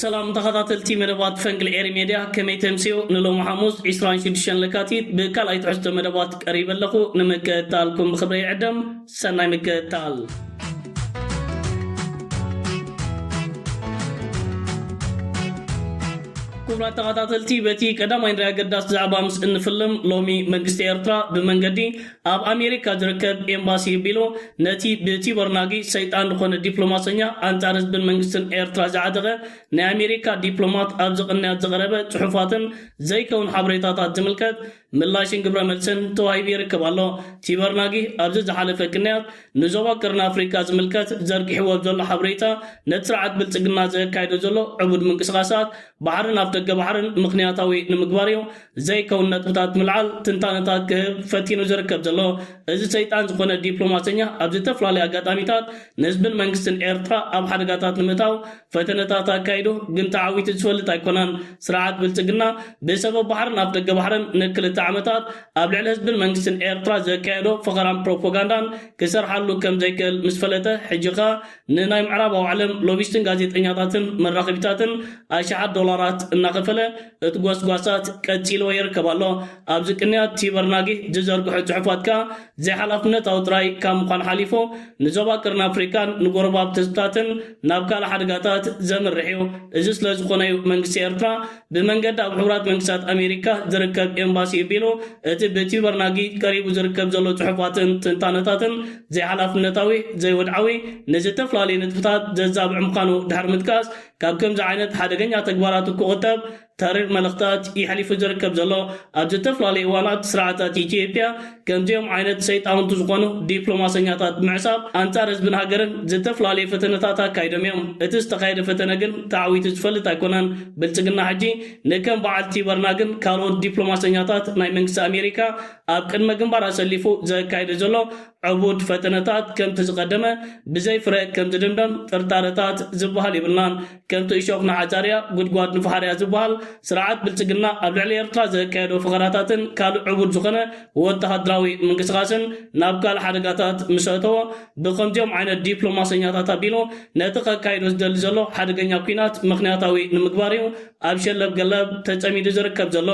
ሰላም ተኸታተልቲ መደባት ፈንቅል ኤሪ ሜድያ ከመይ ተምስዮ ንሎሚ ሓሙስ 26 ለካቲት ብካልኣይ ትሕዝቶ መደባት ቀሪበ ኣለኹ ንምክእታልኩም ብክብረ ይዕደም ሰናይ ምክእታል ክቡራት ተኸታተልቲ በቲ ቀዳማይ ንሪኣ ኣገዳሲ ዛዕባ ምስ እንፍልም ሎሚ መንግስቲ ኤርትራ ብመንገዲ ኣብ ኣሜሪካ ዝርከብ ኤምባሲ ቢሎ ነቲ ብቲቦር ናጊ ሰይጣን ዝኾነ ዲፕሎማሰኛ ኣንጻር ህዝብን መንግስትን ኤርትራ ዝዓጠቐ ናይ ኣሜሪካ ዲፕሎማት ኣብዚ ቅንያት ዝቐረበ ጽሑፋትን ዘይከውን ሓበሬታታት ዝምልከት ምላሽን ግብረ መልስን ተዋሂቡ ይርከብ ኣሎ። ቲቦር ናጊ ኣብዚ ዝሓለፈ ቅንያት ንዞባ ቀርኒ ኣፍሪቃ ዝምልከት ዘርጊሕዎ ኣብ ዘሎ ሓበሬታ ነቲ ስርዓት ብልጽግና ዘካይዶ ዘሎ ዕቡድ ምንቅስቓሳት ባሕርን ኣፍደገ ባሕርን ምኽንያታዊ ንምግባር እዩ ዘይከውን ነጥብታት ምልዓል ትንታነታት ክህብ ፈቲኑ ዝርከብ ዘሎ እዚ ሰይጣን ዝኾነ ዲፕሎማሰኛ ኣብ ዝተፍላለዩ ኣጋጣሚታት ንህዝብን መንግስትን ኤርትራ ኣብ ሓደጋታት ንምእታው ፈተነታት ኣካይዱ ግን ተዓዊቱ ዝፈልጥ ኣይኮነን ስርዓት ብልጽግና ብሰበብ ባሕርን ኣፍደገ ባሕርን ንክልተ ዓመታት ኣብ ልዕሊ ህዝብን መንግስትን ኤርትራ ዘካየዶ ፈኸራን ፕሮፖጋንዳን ክሰርሓሉ ከምዘይክእል ምስ ፈለጠ ሕጂ ከኣ ንናይ ምዕራባዊ ዓለም ሎቢስትን ጋዜጠኛታትን መራኸቢታትን ኣሽሓት ዶላራት እናኸፈለ እቲ ጎስጓሳት ቀጺልዎ ይርከብ ኣሎ። ኣብዚ ቅንያት ቲበር ናጊህ ዝዘርግሖ ጽሑፋት ከኣ ዘይሓላፍነታዊ ጥራይ ካብ ምዃን ሓሊፉ ንዞባ ቀርኒ ኣፍሪቃን ንጎረባብቲ ህዝብታትን ናብ ካልእ ሓደጋታት ዘምርሕ'ዩ። እዚ ስለዝኾነ'ዩ መንግስቲ ኤርትራ ብመንገዲ ኣብ ሕቡራት መንግስታት ኣሜሪካ ዝርከብ ኤምባሲ'ዩ ቢሉ፣ እቲ ብቲዩበር ናጊ ቀሪቡ ዝርከብ ዘሎ ጽሑፋትን ትንታነታትን ዘይሓላፍነታዊ፣ ዘይወድዓዊ፣ ንዝተፍላለዩ ንጥፍታት ዘዛብዕ ምዃኑ ድሕሪ ምጥቃስ፣ ካብ ከምዚ ዓይነት ሓደገኛ ተግባራቱ ክቑጠብ ተሪር መልእኽታት የሕሊፉ ዝርከብ ዘሎ ኣብ ዝተፍላለዩ እዋናት ስርዓታት ኢትዮጵያ ከምዚኦም ዓይነት ሰይጣውንቲ ዝኾኑ ዲፕሎማሰኛታት ምዕጻብ ኣንጻር ህዝብን ሃገርን ዝተፍላለዩ ፈተነታት ኣካይዶም እዮም። እቲ ዝተኻየደ ፈተነ ግን ተዓዊቱ ዝፈልጥ ኣይኮነን። ብልጽግና ሕጂ ንከም በዓል ቲበርናግን ካልኦት ዲፕሎማሰኛታት ናይ መንግስቲ ኣሜሪካ ኣብ ቅድመ ግንባር ኣሰሊፉ ዘካይዶ ዘሎ ዕቡድ ፈተነታት ከምቲ ዝቐደመ ብዘይ ፍረ ከምዝድምደም ጥርጣረታት ዝበሃል የብልናን። ከምቲ እሾኽ ንዓጫርያ ጉድጓድ ንፍሓርያ ዝበሃል፣ ስርዓት ብልጽግና ኣብ ልዕሊ ኤርትራ ዘካየዶ ፈኸራታትን ካልእ ዕቡድ ዝኾነ ወተሃደራዊ ምንቅስቓስን ናብ ካልእ ሓደጋታት ምስ ኣእተዎ፣ ብኸምዚኦም ዓይነት ዲፕሎማሰኛታት ኣቢሉ ነቲ ከካይዶ ዝደሊ ዘሎ ሓደገኛ ኲናት ምኽንያታዊ ንምግባር'ዩ ኣብ ሸለብገለብ ተጸሚዱ ዝርከብ ዘሎ።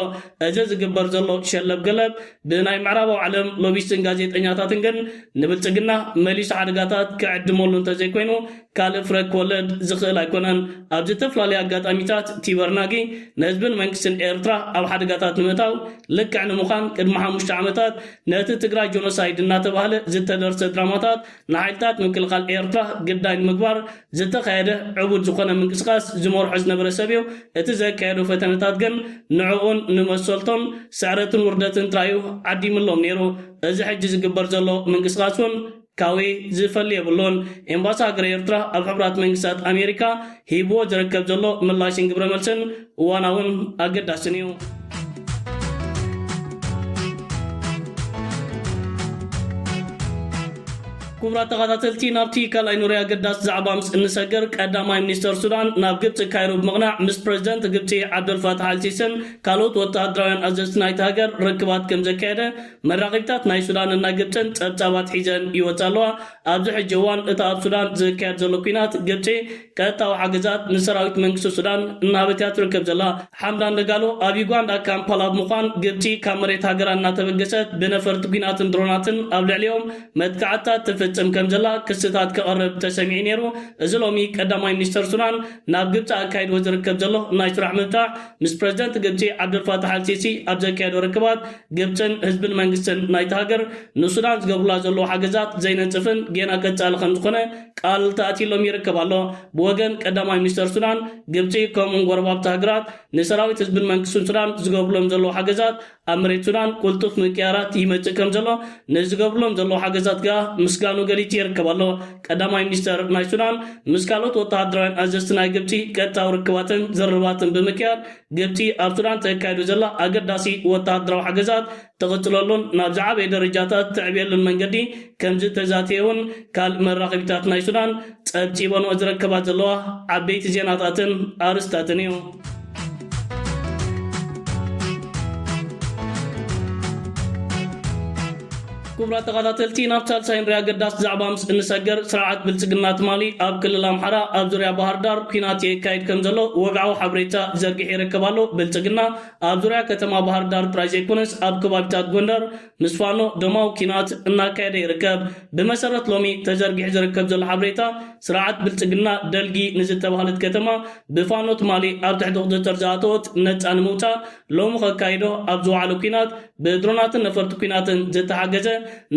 እዚ ዝግበር ዘሎ ሸለብገለብ ብናይ ምዕራባዊ ዓለም ሎቢስትን ጋዜጠኛታትን ግን ንብልጽግና መሊሱ ሓደጋታት ክዕድመሉ እንተዘይኮይኑ ካልእ ፍረ ክወልድ ዝኽእል ኣይኮነን። ኣብ ዝተፍላለዩ ኣጋጣሚታት ቲበርናጊ ንህዝብን መንግስትን ኤርትራ ኣብ ሓደጋታት ንምእታው ልክዕ ንምዃን ቅድሚ ሓሙሽተ ዓመታት ነቲ ትግራይ ጆኖሳይድ እናተባህለ ዝተደርሰ ድራማታት ንሓይልታት ምክልኻል ኤርትራ ግዳይ ንምግባር ዝተኻየደ ዕቡድ ዝኾነ ምንቅስቃስ ዝመርሖ ዝነበረ ሰብዩ። እቲ ዘካየዶ ፈተነታት ግን ንዕኡን ንመሰልቶን ስዕረትን ውርደትን ጥራይዩ ዓዲምሎም ነይሩ። እዚ ሕጂ ዝግበር ዘሎ ምንቅስቃስውን። ካውይ ዝፈሊ የብሉን። ኤምባሲ ሃገረ ኤርትራ ኣብ ሕቡራት መንግስታት ኣሜሪካ ሂብዎ ዝረከብ ዘሎ ምላሽን ግብረ መልስን እዋናውን ኣገዳስን እዩ። ኩቡራት ተኻታተልቲ ናብቲ ካልኣይ ኑሪ ኣገዳሲ ዛዕባ ምስ እንሰግር ቀዳማይ ሚኒስተር ሱዳን ናብ ግብጺ ካይሮ ብምቕናዕ ምስ ፕረዚደንት ግብጺ ዓብደልፋታሕ ኣልሲስን ካልኦት ወተሃደራውያን ኣዘዝቲ ናይታ ሃገር ርክባት ከምዘካየደ መራኺብታት ናይ ሱዳን እና ግብጽን ጸብጻባት ሒዘን ይወጻ ኣለዋ። ኣብዚ ሕጂ እዋን እታ ኣብ ሱዳን ዝካየድ ዘሎ ኲናት ግብጺ ቀጥታዊ ሓገዛት ንሰራዊት መንግስቲ ሱዳን እናሃበት እያ ትርከብ ዘላ። ሓምዳን ደጋሎ ኣብ ዩጋንዳ ካምፓላ ብምዃን ግብጺ ካብ መሬት ሃገራ እናተበገሰት ብነፈርቲ ኲናትን ድሮናትን ኣብ ልዕሊኦም መጥቃዕትታት ትፍጽም ከምዘላ ክስታት ከቐርብ ተሰሚዑ ነይሩ። እዚ ሎሚ ቀዳማይ ሚኒስተር ሱዳን ናብ ግብጺ ኣካይድዎ ዝርከብ ዘሎ ናይ ስራሕ ምብጻሕ ምስ ፕረዚደንት ግብጺ ዓብደልፋታሕ ኣልሲሲ ኣብ ዘካየዶ ርክባት፣ ግብጽን ህዝብን መንግስትን ናይታ ሃገር ንሱዳን ዝገብሩላ ዘለዉ ሓገዛት ዘይነጽፍን ጌና ቀጻሊ ከምዝኾነ ቃል ተኣትይሎም ይርከብ ኣሎ። ብወገን ቀዳማይ ሚኒስተር ሱዳን፣ ግብጺ ከምኡ'ውን ጎረባብቲ ሃገራት ንሰራዊት ህዝብን መንግስትን ሱዳን ዝገብሩሎም ዘለዉ ሓገዛት ኣብ መሬት ሱዳን ቁልጡፍ ምቅያራት ይመጽእ ከምዘሎ ንዝገብርሎም ዘለዉ ሓገዛት ከኣ ምስጋኑ ገሊጹ ይርከብ ኣሎ። ቀዳማይ ሚኒስተር ናይ ሱዳን ምስ ካልኦት ወተሃደራውያን ኣዘዝቲ ናይ ግብጺ ቀጥታዊ ርክባትን ዝርርባትን ብምክያድ ግብጺ ኣብ ሱዳን ተካይዶ ዘላ ኣገዳሲ ወተሃደራዊ ሓገዛት ትቕጽለሉን ናብ ዝዓበየ ደረጃታት ተዕብየሉን መንገዲ ከምዝተዛተየ'ውን ካል መራኸቢታት ናይ ሱዳን ጸብጺበንኦ ዝረከባ ዘለዋ ዓበይቲ ዜናታትን ኣርስታትን እዩ። ክቡራት ተኸታተልቲ ናብ ሳልሳይ ንሪኣ ኣገዳሲ ዛዕባ ምስ እንሰገር ስርዓት ብልፅግና ትማሊ ኣብ ክልል ኣምሓራ ኣብ ዙርያ ባህር ዳር ኩናት የካይድ ከም ዘሎ ወግዓዊ ሓበሬታ ዘርጊሕ ይርከብ ኣሎ። ብልፅግና ኣብ ዙርያ ከተማ ባህር ዳር ጥራይ ዘይኮነስ ኣብ ከባቢታት ጎንደር ምስ ፋኖ ደማዊ ኲናት እናካየደ ይርከብ። ብመሰረት ሎሚ ተዘርጊሑ ዝርከብ ዘሎ ሓበሬታ፣ ስርዓት ብልጽግና ደልጊ ንዝተባህለት ከተማ ብፋኖ ትማሊ ኣብ ትሕቲ ቁጽጽር ዝኣተወት ነጻ ንምውጻእ ሎሚ ከካይዶ ኣብ ዝወዓሎ ኲናት ብድሮናትን ነፈርቲ ኲናትን ዝተሓገዘ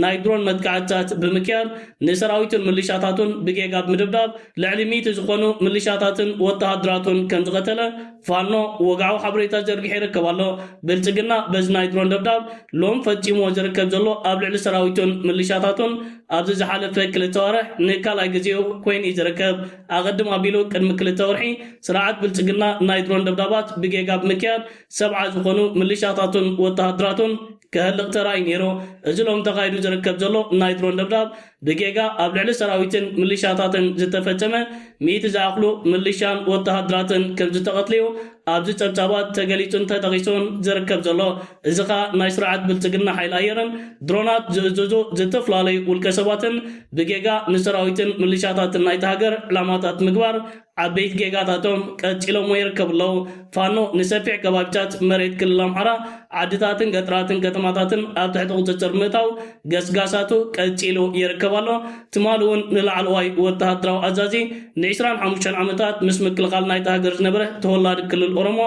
ናይ ድሮን መጥቃዕትታት ብምክያድ ንሰራዊቱን ምልሻታቱን ብጌጋ ብምድብዳብ ልዕሊ ሚእቲ ዝኾኑ ምልሻታትን ወተሃደራቱን ከምዝቐተለ ፋኖ ወግዓዊ ሓበሬታ ዘርጊሑ ይርከብ ኣሎ። ብልጽግና በዚ ናይ ድሮን ደብዳብ ሎም ፈጺምዎ ዝርከብ ዘሎ ኣብ ልዕሊ ሰራዊቱን ምልሻታቱን ኣብዚ ዝሓለፈ ክልተ ኣዋርሕ ንካልኣይ ግዜኡ ኮይኑ እዩ ዝርከብ። ኣቐድም ኣቢሉ ቅድሚ ክልተ ወርሒ ስርዓት ብልጽግና ናይ ድሮን ደብዳባት ብጌጋ ብምክያድ ሰብዓ ዝኾኑ ምልሻታቱን ወተሃደራቱን ክህልቕ ተራእዩ ነይሩ። እዚ ሎሚ ተኻይዱ ዝርከብ ዘሎ ናይ ድሮን ደብዳብ ብጌጋ ኣብ ልዕሊ ሰራዊትን ምልሻታትን ዝተፈጸመ ሚእቲ ዝኣኽሉ ምልሻን ወተሃደራትን ከም ዝተቐትሉ'ዩ ኣብዚ ጸብጻባት ተገሊጹን ተጠቒሱን ዝርከብ ዘሎ። እዚ ከኣ ናይ ስርዓት ብልጽግና ሓይሊ ኣየርን ድሮናት ዝእዝዙ ዝተፈላለዩ ውልቀሰባትን ብጌጋ ንሰራዊትን ምልሻታትን ናይታ ሃገር ዕላማታት ምግባር ዓበይቲ ጌጋታቶም ቀጺሎሞ ይርከቡ ኣለዉ። ፋኖ ንሰፊሕ ከባቢታት መሬት ክልል ኣምሓራ፣ ዓድታትን ገጠራትን ከተማታትን ኣብ ትሕቲ ቁጽጽር ብምእታው ገስጋሳቱ ቀጺሉ ይርከብ ኣሎ። ትማሊ'ውን ንላዕለዋይ ወተሃደራዊ ኣዛዚ ንዕስራን ሓሙሽተን ዓመታት ምስ ምክልኻል ናይታ ሃገር ዝነበረ ተወላዲ ክልል ኦሮሞ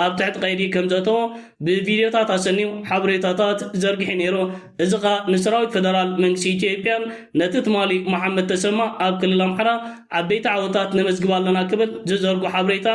ኣብ ትሕቲ ቀይዲ ከምዘእተዎ ብቪድዮታት ኣሰንዩ ሓበሬታታት ዘርጊሑ ነይሩ። እዚ ከኣ ንሰራዊት ፈደራል መንግስቲ ኢትዮጵያን ነቲ ትማሊ መሓመድ ተሰማ ኣብ ክልል ኣምሓራ ዓበይቲ ዓወታት ነመዝግብ ኣለና ክብል ዝዘርጎ ሓብሬታ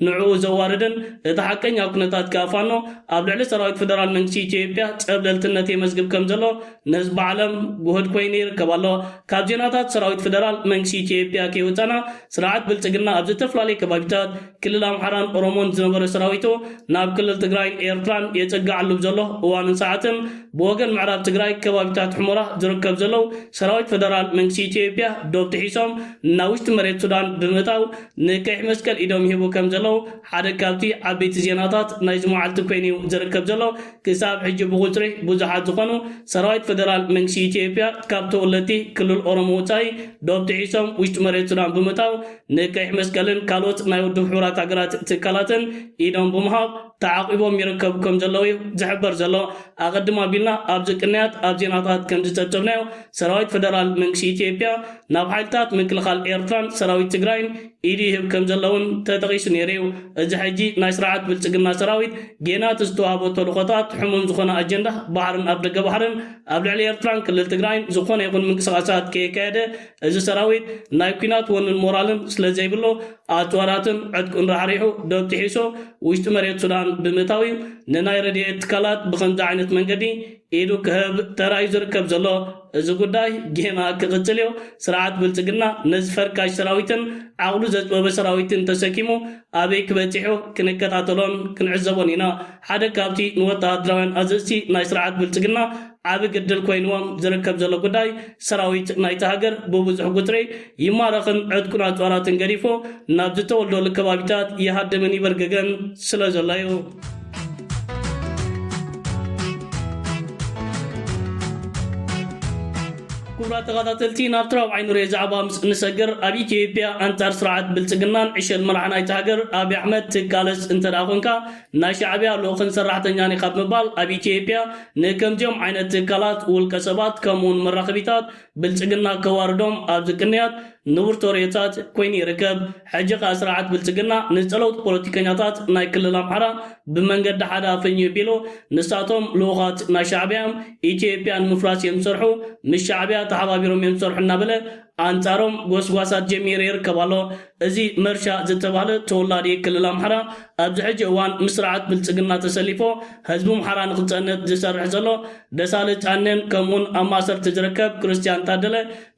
ንዕኡ ዘዋርድን እቲ ሓቀኛ ኩነታት ከኣ ፋኖ ኣብ ልዕሊ ሰራዊት ፈደራል መንግስቲ ኢትዮጵያ ጸብለልትነት የመዝግብ ከምዘሎ ንህዝቢ ዓለም ጉሁድ ኮይኑ ይርከብ ኣሎ ካብ ዜናታት ሰራዊት ፈደራል መንግስቲ ኢትዮጵያ ከይወጸና ስርዓት ብልጽግና ኣብ ዝተፈላለየ ከባቢታት ክልል ኣምሓራን ኦሮሞን ዝነበረ ሰራዊቱ ናብ ክልል ትግራይን ኤርትራን የጸግዓሉ ብዘሎ እዋንን ሰዓትን ብወገን ምዕራብ ትግራይ ከባቢታት ሑመራ ዝርከብ ዘለው ሰራዊት ፈደራል መንግስቲ ኢትዮጵያ ዶብ ጥሒሶም ናብ ውሽጢ መሬት ሱዳን ብምእታው ንቀይሕ መስቀል ኢዶም ይህቡ ከምዘለው ሓደ ካብቲ ዓበይቲ ዜናታት ናይዚ መዓልቲ ኮይኑዩ ዝርከብ ዘሎ። ክሳብ ሕጂ ብቁጽሪ ብዙሓት ዝኾኑ ሰራዊት ፈደራል መንግስቲ ኢትዮጵያ ካብ ተወለድቲ ክልል ኦሮሞ ወጻኢ ዶብ ጥሒሶም ውሽጢ መሬት ሱዳን ብምእታው ንቀይሕ መስቀልን ካልኦት ናይ ውድብ ሕቡራት ሃገራት ትካላትን ኢዶም ብምሃብ ተዓቚቦም ይርከቡ ከምዘለዉ'ዩ ዝሕበር ዘሎ። ኣቐድም ኣቢልና ኣብዚ ቅንያት ኣብ ዜናታት ከምዝጸብጸብናዮ ሰራዊት ፈደራል መንግስቲ ኢትዮጵያ ናብ ሓይልታት ምክልኻል ኤርትራን ሰራዊት ትግራይን ኢድ ይህብ ከምዘሎ'ውን ተጠቒሱ ነይሩ'ዩ። እዚ ሕጂ ናይ ስርዓት ብልጽግና ሰራዊት፣ ጌና እቲ ዝተዋህቦ ተልእኾታት፣ ሕሙም ዝኾነ ኣጀንዳ፣ ባሕርን ኣፍደገ ባሕርን፣ ኣብ ልዕሊ ኤርትራን ክልል ትግራይን ዝኾነ ይኹን ምንቅስቓሳት ከየካየደ፣ እዚ ሰራዊት ናይ ኩናት ወንን ሞራልን ስለዘይብሎ፣ ኣጽዋራትን ዕጥቁን ራሕሪሑ ዶብ ጥሒሶ ውሽጢ መሬት ሱዳን ብምእታው'ዩ ንናይ ረድኤት ትካላት ብኸምዚ ዓይነት መንገዲ ኢዱ ክህብ ተራእዩ ዝርከብ ዘሎ። እዚ ጉዳይ ጌና ክቕጽል እዮ። ስርዓት ብልጽግና ነዚ ፈርካሽ ሰራዊትን ዓቕሉ ዘጥበበ ሰራዊትን ተሰኪሙ ኣበይ ክበጺሑ ክንከታተሎን ክንዕዘቦን ኢና። ሓደ ካብቲ ንወተሃደራውያን ኣዘዝቲ ናይ ስርዓት ብልጽግና ዓቢ ግድል ኮይንዎም ዝርከብ ዘሎ ጉዳይ ሰራዊት ናይታ ሃገር ብብዙሕ ጉትሪ ይማረኽን ዕጥቁን ኣጽዋራትን ገዲፉ ናብ ዝተወልደሉ ከባቢታት ይሃድምን ይበርግግን ስለ ዘሎ እዩ። ክቡራት ተኸታተልቲ ናብቲ ራብዓይ ንሪኦ ዛዕባ ምስ እንሰግር ኣብ ኢትዮጵያ ኣንጻር ስርዓት ብልጽግናን ዕሸል መራሒ ናይቲ ሃገር ኣብዪ ኣሕመድ ትቃለስ እንተደኣ ኮንካ ናይ ሻዕብያ ልኡኽን ሰራሕተኛን ኢኻ ብምባል ኣብ ኢትዮጵያ ንከምዚኦም ዓይነት ትካላት ውልቀ ሰባት ከምኡውን መራኸቢታት ብልፅግና ከዋርዶም ኣብ ዝቅንያት ንቡር ተርእዮታት ኮይኑ ይርከብ። ሕጂ ከኣ ስርዓት ብልፅግና ንፀለውቲ ፖለቲከኛታት ናይ ክልል ኣምሓራ ብመንገዲ ሓደ ኣፈኝዩ ቢሉ ንሳቶም ልኡኻት ናይ ሻዕቢያ እዮም፣ ኢትዮጵያ ንምፍራስ እዮም ዝሰርሑ፣ ምስ ሻዕቢያ ተሓባቢሮም እዮም ዝሰርሑ እናበለ ኣንፃሮም ጎስጓሳት ጀሚሩ ይርከብ ኣሎ። እዚ መርሻ ዝተባህለ ተወላዲ ክልል ኣምሓራ ኣብዚ ሕጂ እዋን ምስ ስርዓት ብልጽግና ተሰሊፎ ህዝቢ ምሓራ ንክጸንት ዝሰርሕ ዘሎ ደሳለች ኣኔን ከምእውን ኣብ ማእሰርቲ ዝርከብ ክርስትያን ታደለ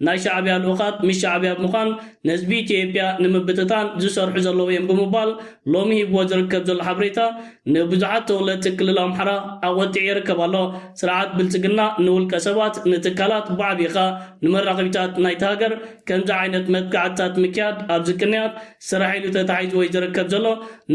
ናይ ሻዕብያ ልኡኻት ምስ ሻዕብያ ብምዃን ንህዝቢ ኢትዮጵያ ንምብትታን ዝሰርሑ ዘለዉ እዬም ብምባል ሎሚ ሂብዎ ዝርከብ ዘሎ ሓበሬታ ንብዙሓት ተወለድቲ ክልል ኣምሓራ ኣቖጢዑ ይርከብ ኣሎ። ስርዓት ብልጽግና ንውልቀ ሰባት ንትካላት ብዓብይኻ ንመራኸቢታት ናይቲ ሃገር ከምዚ ዓይነት መጥቃዕትታት ምክያድ ኣብዚ ቅንያት ስራሕ ኢሉ ተታሒዙ ወይ ዝርከብ ዘሎ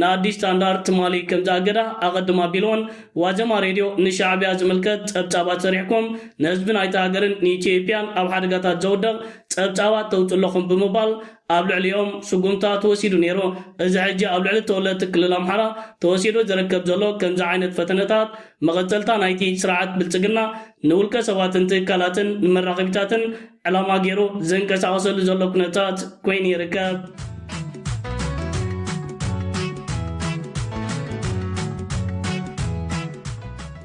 ንኣዲስ ስታንዳርድ ትማሊ ከምዝኣገዳ ኣቐድም ኣቢሉ'ውን ዋዘማ ሬድዮ ንሻዕብያ ዝምልከት ጸብጻባት ሰሪሕኩም ንህዝቢ ናይታ ሃገርን ንኢትዬጵያን ኣብ ሓደጋታት ዘውድቕ ጸብጻባት ተውጽኡ ኣለኹም ብምባል ኣብ ልዕሊኦም ስጉምታ ተወሲዱ ነይሩ። እዚ ሕጂ ኣብ ልዕሊ ተወለድቲ ክልል ኣምሓራ ተወሲዱ ዝርከብ ዘሎ ከምዚ ዓይነት ፈተነታት መቐጸልታ ናይቲ ስርዓት ብልጽግና ንውልቀ ሰባትን ትካላትን ንመራኸቢታትን ዕላማ ገይሩ ዝንቀሳቐሰሉ ዘሎ ኩነታት ኮይኑ ይርከብ።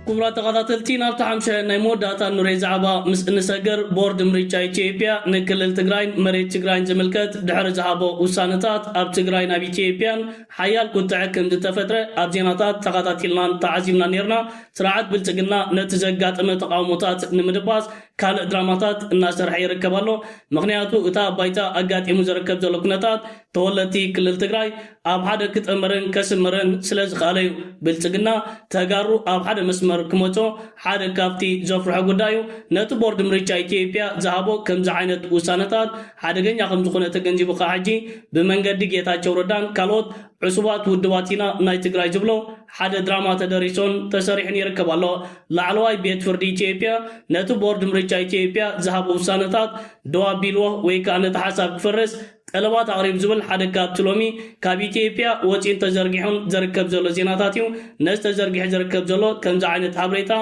ክቡራት ተኸታተልቲ ናብቲ ሓምሸ ናይ መወዳእታ ንሬ ዛዕባ ምስ እንሰግር ቦርድ ምርጫ ኢትዮጵያ ንክልል ትግራይን መሬት ትግራይን ዝምልከት ድሕሪ ዝሃቦ ውሳነታት ኣብ ትግራይ ናብ ኢትዮጵያን ሓያል ቁጥዐ ከም ዝተፈጥረ ኣብ ዜናታት ተኸታቲልናን ተዓዚብና ነርና ስርዓት ብልፅግና ነቲ ዘጋጠመ ተቃውሞታት ንምድባስ ካልእ ድራማታት እናሰርሐ ይርከብ ኣሎ። ምኽንያቱ እታ ኣብ ባይታ ኣጋጢሙ ዝርከብ ዘሎ ኩነታት ተወለድቲ ክልል ትግራይ ኣብ ሓደ ክጥምርን ከስምርን ስለዝኸኣለ ዩ። ብልፅግና ተጋሩ ኣብ ሓደ መስመር ክመፁ ሓደ ካብቲ ዘፍርሖ ጉዳይ ዩ። ነቲ ቦርድ ምርጫ ኢትዮጵያ ዝሃቦ ከምዚ ዓይነት ውሳነታት ሓደገኛ ከምዝኾነ ተገንዚቡ ከዓ ሕጂ ብመንገዲ ጌታቸው ረዳን ካልኦት ዕሱባት ውድባት ኢና ናይ ትግራይ ዝብሎ ሓደ ድራማ ተደሪሱን ተሰሪሑን ይርከብ ኣሎ። ላዕለዋይ ቤት ፍርዲ ኢትዮጵያ ነቲ ቦርድ ምርጫ ኢትዮጵያ ዝሃቦ ውሳነታት ደው ኣቢልዎ ወይ ከኣ ነቲ ሓሳብ ክፍርስ ጠለባት ኣቕሪቡ ዝብል ሓደ ካብቲ ሎሚ ካብ ኢትዮጵያ ወጺኡን ተዘርጊሑን ዘርከብ ዘሎ ዜናታት እዩ። ነዚ ተዘርጊሑ ዝርከብ ዘሎ ከምዚ ዓይነት ሓብሬታ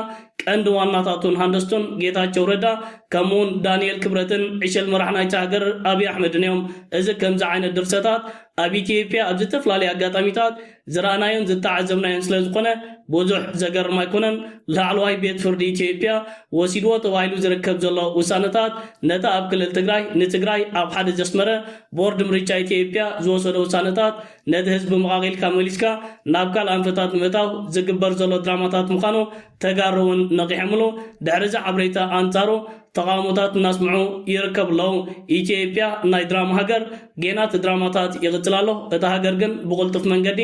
ቀንዲ ዋናታቱን ሃንደስቱን ጌታቸው ረዳ ከምኡውን ዳኒኤል ክብረትን ዕሸል መራሕ ናይታ ሃገር ኣብይ ኣሕመድን እዮም። እዚ ከምዚ ዓይነት ድርሰታት ኣብ ኢትዮጵያ ኣብ ዝተፍላለየ ኣጋጣሚታት ዝረኣናዮን ዝተዓዘብናዮን ስለዝኾነ ብዙሕ ዘገርም ኣይኮነን። ላዕለዋይ ቤት ፍርዲ ኢትዮጵያ ወሲድዎ ተባሂሉ ዝርከብ ዘሎ ውሳነታት ነቲ ኣብ ክልል ትግራይ ንትግራይ ኣብ ሓደ ዘስመረ ቦርድ ምርጫ ኢትዮጵያ ዝወሰዶ ውሳነታት ነቲ ህዝቢ መቓቒልካ መሊስካ ናብ ካልእ ኣንፈታት ንምእታው ዝግበር ዘሎ ድራማታት ምዃኑ ተጋሩ እውን ነቒሖምሉ ድሕሪዚ ሓበሬታ ኣንጻሩ ተቓውሞታት እናስምዑ ይርከቡ ኣለዉ። ኢትዮጵያ ናይ ድራማ ሃገር ጌና እቲ ድራማታት ይቕጽል ኣሎ። እታ ሃገር ግን ብቕልጡፍ መንገዲ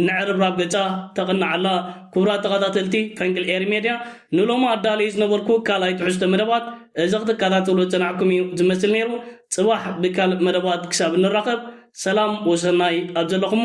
ንዕርብራብ ገጻ ተቕንዕ ኣላ። ክቡራት ተኻታተልቲ ፈንቅል ኤሪ ሜድያ ንሎሚ ኣዳልየዮ ዝነበርኩ ካልኣይ ትሕዝቶ መደባት እዚ ክትካታተልዎ ዝጸናሕኩም እዩ ዝመስል ነይሩ። ጽባሕ ብካልእ መደባት ክሳብ እንራኸብ ሰላም ወሰናይ ኣብ ዘለኹሞ